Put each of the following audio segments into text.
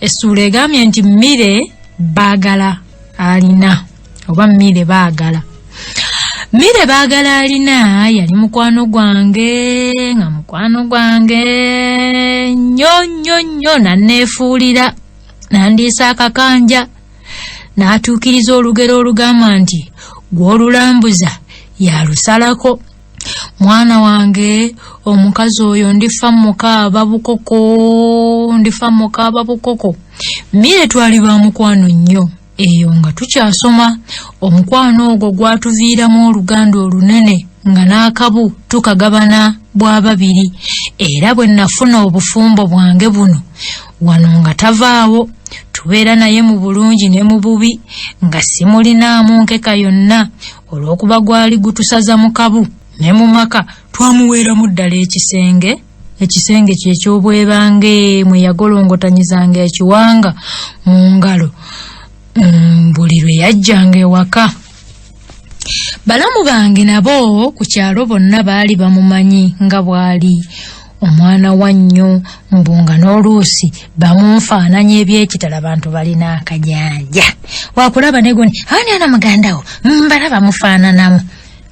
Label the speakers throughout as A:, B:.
A: essuula egambye nti mmire baagala alina oba mmire baagala mmire baagala alina yali mukwano gwange nga mukwano gwange nnyo nnyo nnyo nanneefuulira nandiisa akakanja n'atuukiriza olugero olugamba nti gw'olulambuza yalusalako mwana wange omukazi oyo ndifa mukaaba bukoko ndifa mukaaba bukoko mire twali ba mukwano nnyo eyo nga tukyasoma omukwano ogwo gwatuviiramu oluganda olunene nga n'akabu tukagabana bwa babiri era bwe nafuna obufumbo bwange buno wano nga tavaawo tubeera naye mu bulungi ne mu bubi nga simulinaamu nkeka yonna olw'okuba gwali gutusaza mu kabu ne mu maka twamuweeramu ddala ekisenge ekisenge kye eky'obwebange mwe yagolongotanyizanga ekiwanga mu ngalo mm, buli lwe yajjanga ewaka balamu bange nabo ku kyalo bonna baali bamumanyi nga bwali omwana wa nnyo mbu nga n'oluusi bamunfaananya ebyekitala bantu balina akajanja wakulaba negoni ani ana muganda wo mbala bamufaananamu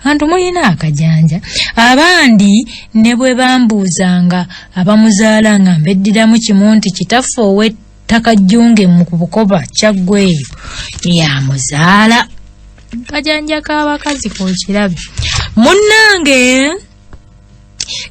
A: antu mulina akajanja abandi ne bwe bambuuzanga abamuzaala nga mbeddiramu kimu nti kitaffe ow'ettaka jjunge mu bukoba kyaggweyo yamuzaala kajanja k'abakazi kokirabe munnange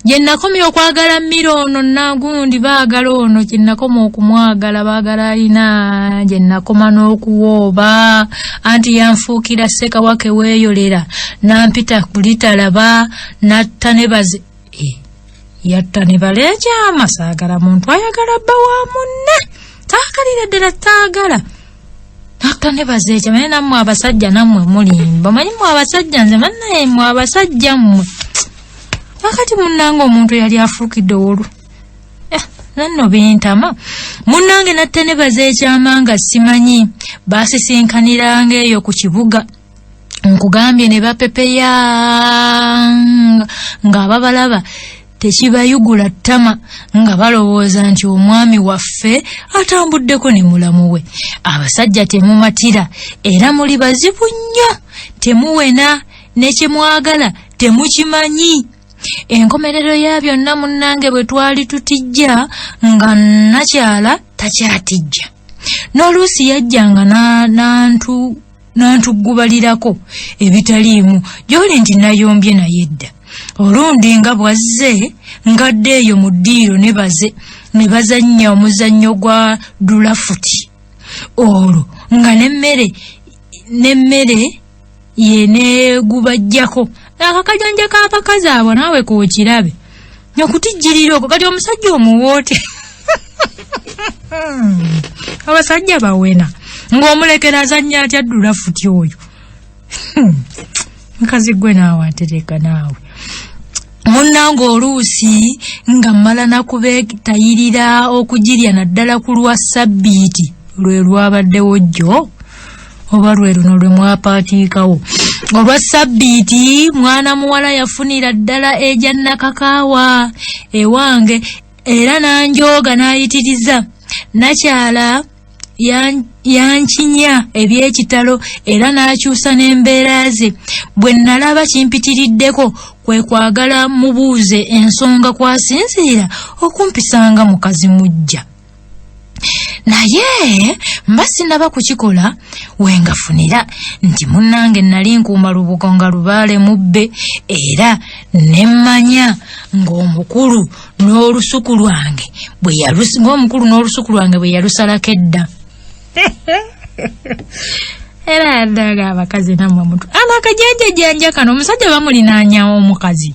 A: gye nakomya okwagala mmiro ono nagundi baagala ono gye nakoma okumwagala baagala alina gye nakoma n'okuwooba anti yanfuukira ssekawake weeyolera nampita kulitalaba natta ne baze eh, yatta ne baleekyama saagala muntu ayagala bba wa munne taakalira ddala taagala nakta nebaza ekyo naye nammwe abasajja nammwe mulimba manyi mwe abasajja nze mannaye mwe abasajja mmwe wakati munnanga omuntu yali afuukidde owolu eh, nanno bintama munnange natte nebaza ekyama nga simanyi basisinkaniranga eyo ku kibuga nkugambye ne bapepeya nga ababalaba tekibayugula ttama nga balowooza nti omwami waffe atambuddeko ne mulamu we abasajja temumatira era muli bazibu nnyo temuwena ne kye mwagala temukimanyi enkomerero ya byonna munnange bwe twali tutijja nga nakyala takyatijja n'oluusi yajjanga n'antu n'antuggubalirako ebitaliimu gy'oli nti nayombye naye dda olundi nga bw'azze ngadde eyo mu ddiiro ne baze ne bazannya omuzannyo gwa dulafuti olwo nga n'emmere n'emmere ye negubajjako akakajanja k'abakazi abo naawe kokirabe nokutijjirira okwo kati omusajja omuwoote abasajja bawena ng'omulekera azannya atya ddula futi oyo hmm. nkazi gwe naawe atereka naawe munnange oluusi nga mmala nakubeetayirira okugirya naddala ku lwa ssabbiiti lwe lwabaddewo jjo oba lwe luno lwe mwapaatiikawo olwa ssabbiiti mwana muwala yafunira ddala egya nakakaawa ewange era n'anjooga n'ayitiriza nakyala yankinya eby'ekitalo era n'akyusa n'embeera ze bwe nnalaba kimpitiriddeko kwe kwagala mubuuze ensonga kwasinziira okumpisanga mukazi mujja naye mba sinaba kukikola wengafunira nti munnange nali nkuuma lubugo nga lubaale mubbe era nemmanya ng'omukulu n'olusuku lwange ng'omukulu n'olusuku lwange bwe yalusalako edda era yaddaga abakazi namwe mutu ano akajanja janja kano omusajja bamulinanyawo omukazi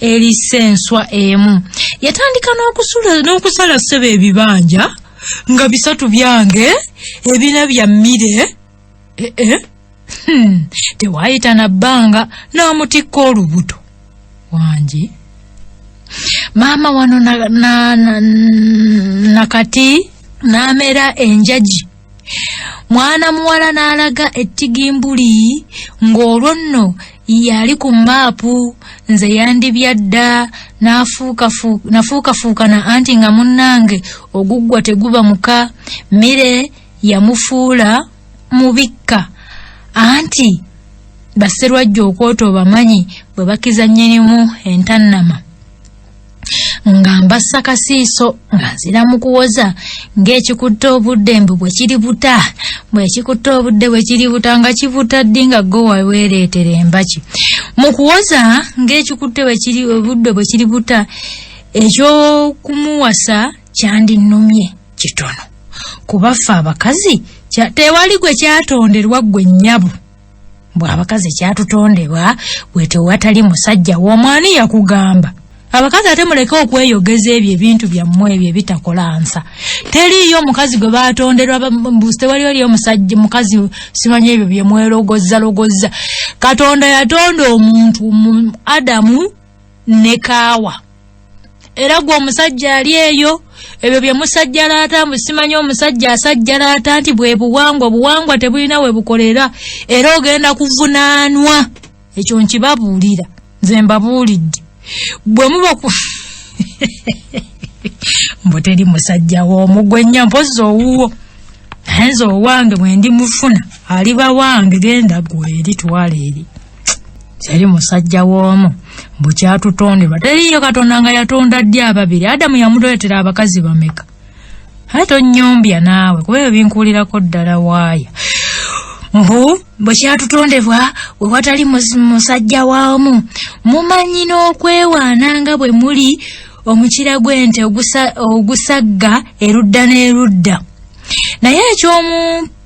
A: erisa enswa emu yatandika n'okusula n'okusala ssebo ebibanja nga bisatu byange ebina bya mmire eh, eh. Hmm. tewaayita na bbanga n'amutikka olubuto wangi maama wano na, na, na, na kati n'amera enjagi mwana muwala n'alaga ettigimbuli ng'olwo nno yali ku maapu nze yandibyadda nafuukafuukana anti nga munnange oguggwa teguba muka mmere yamufuula mubikka anti baserwajja okwota obamanyi bwe bakizannyirimu entannama nga mbassa kasiiso nga nzira mu kuwoza ng'ekikutte obudde mbu bwe kiri buta bwekikutte obudde bwe kiri buta nga kibuta ddi nga go waweereetera embaki mu kuwoza ng'ekikutte obudde bwe kiri buta eky'okumuwasa kyandinnumye kitono kubaffe abakazi tewali gwe kyatonderwa ggwe nnyabo mbwe abakazi kyatutondebwa bwe tewatali musajja womwani yakugamba abakazi ate muleke okweyogeza ebyo ebintu byammwe ebyo ebitakola nsa teriiyo omukazi gwe batonderwa tewali oli omusajja mukazi simanyi ebyo byemwerogozza logozza katonda yatonda omuntu mu adamu ne kaawa era gwe omusajja ali eyo ebyo bye musajjalaata mbu simanyi omusajja asajjalaata nti bwe buwangwa obuwangwa tebulina we bukolera era ogenda kuvunaanwa ekyo nkibabuulira nze mbabuulidde bwe muba ku mbu teri musajja w'omugwennya mpozzi owuwo naye nze owange bwe ndi mufuna aliba wange genda gwe eri twala eri yali musajja w'omu mbu kyatutonderwa teriiyo katonda nga yatonda ddi ababiri adamu yamutoletera abakazi bameka aye tonnyombya naawe kuba ebyo binkuulirako ddala waaya mbu bwe kyatutondebwa we watali musajja waamu mumanyi n'okwewaana nga bwe muli omukira gw'ente ogusagga erudda n'erudda naye eky'omu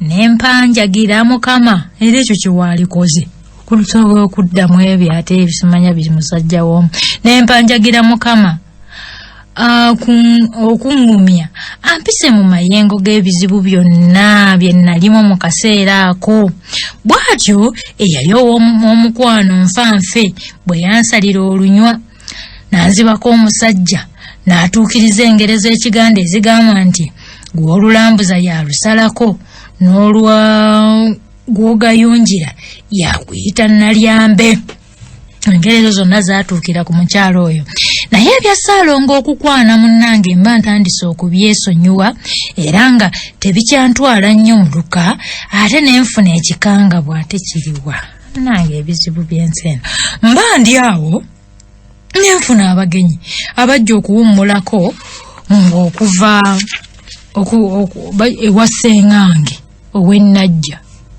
A: ne mpanjagira mukama era ekyo kyewaalikoze kusobola okudda mu ebyo ate ebisimanya biri musajja woomu ne mpanjagira mukama ah, okungumya ampise mu mayengo g'ebizibu byonna bye nnalimu mu kaseera ako bw'atyo eyali ow'omukwano nfa nfe bwe yansalira olunywa n'anzibako omusajja n'atuukiriza engero z'ekiganda ezigamba nti gw'olulambuza yalusalako n'olwa gw'ogayungira yakuyita nalyambe engeri ezo zonna zaatuukira ku mukyalo oyo naye ebya saalongo okukwana munnange mba ntandise okubyesonyiwa era nga tebikyantwala nnyo muluka ate ne nfuna ekikangabwa tekiriwa nange ebizibu byensi eno mba ndi awo nenfuna abagenyi abajja okuwummulako ng'okuva ewa ssengange ow'ennajja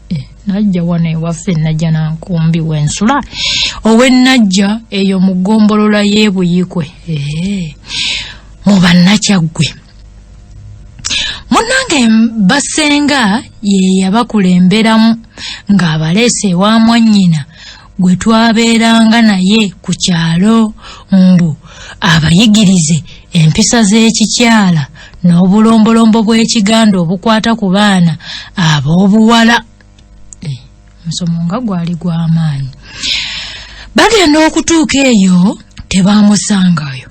A: eh, najja wano ewaffe najja nankumbi wensula ow'ennajja eyo mu ggombolola y'ebuyikwe eh, mu bannakyaggwe munange basenga ye yabakulemberamu ng'abaleese ewa mwannyina gwe twabeeranga naye ku kyalo mbu abayigirize empisa z'ekikyala n'obulombolombo bw'ekiganda obukwata ku baana ab'obuwala eh, musomo nga gwali gwamaanyi bagenda okutuuka eyo tebamusangayo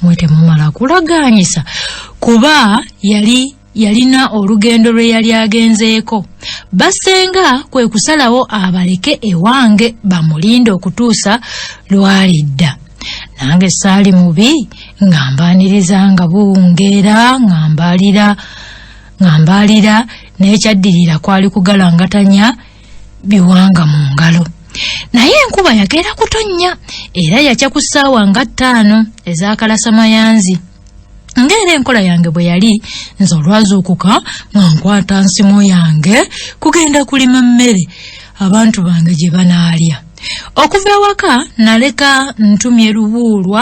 A: mwe temumala kulagaanyisa kuba yali yalina olugendo lwe yali agenzeeko basenga kwe kusalawo abaleke ewange bamulinde okutuusa lwalidda nange saali mubi ng'ambaaniriza nga buwungeera ng'ambalira nga mbaalira n'ekyaddirira kwali kugalangatanya biwanga mu ngalo naye enkuba yagera kutonnya era yakya ku ssaawa nga ttaano ez'akalasamayanzi ng'era enkola yange bwe yali nze olwazuukuka nga nkwata nsimu yange kugenda kulima mmere abantu bange gye banaalya okuva ewaka naleka ntumye lubuulwa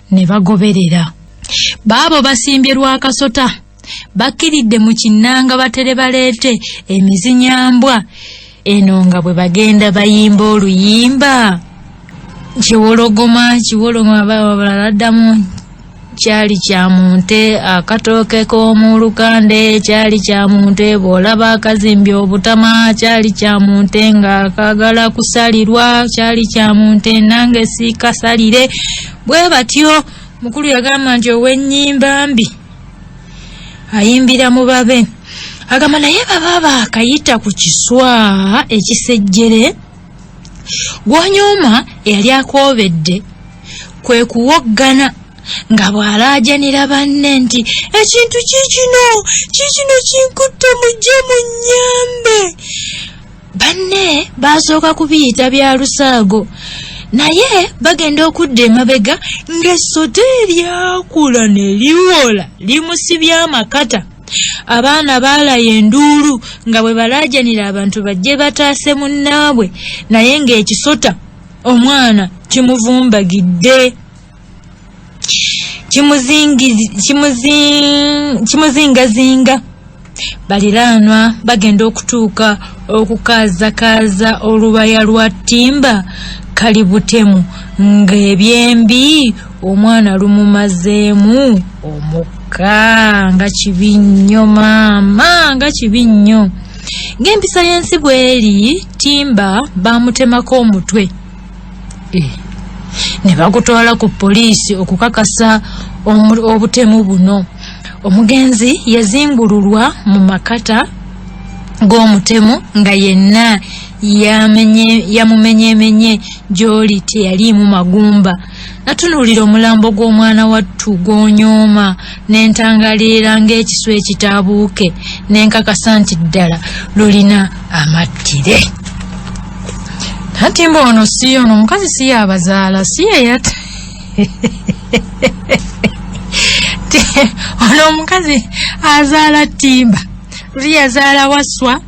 A: ne bagoberera baabo basimbye lwa kasota bakkiridde mu kinnanga batere baleete emizinyambwa eno nga bwe bagenda bayimba oluyimba kiwologoma kiwoloma babala laddamu kyali kya munte akatooke k'omu lukande kyali kya munte bw'olaba akazimbye obutama kyali kya munte ng'akagala kusalirwa kyali kya munte nange sikasalire bwe batyo mukulu yagamba nti ow'ennyimba mbi ayimbira mu babe agamba naye baba baakayita ku kiswa ekisejjere gwonyooma eyali akoobedde kwe kuwoggana nga bw'alaajanira banne nti ekintu kiikino kiikino kinkutte mujje mu nnyambe banne baasooka kubiyita bya lusaago naye bagenda okudda emabega ng'essota eryakula ne liwola limusibye amakata abaana baalaya enduulu nga bwe balaajanira abantu bajje bataase munnaabwe naye ng'ekisota omwana kimuvumbagidde kimuzingazinga baliraanwa bagenda okutuuka okukaazakaaza olubaya lwa ttimba kali butemu ng'ebyembi omwana lumumazeemu omukka nga kibi nnyo maama nga kibi nnyo ng'empisa y'ensi bw'eri ttimba baamutemako omutwe ne bagutwala ku poliisi okukakasa obutemu buno omugenzi yazimbululwa mu makata g'omutemu nga yenna yamumenyemenye gy'oli teyaliimu magumba natunuulira omulambo gw'omwana wattu gw'onyooma ne ntangaliira ng'ekisu ekitaabuuke ne nkakasa nti ddala lulina amattire anti mba ono si ono omukazi si yabazaala si yeyat ono omukazi azaala ttimba luli yazaala waswa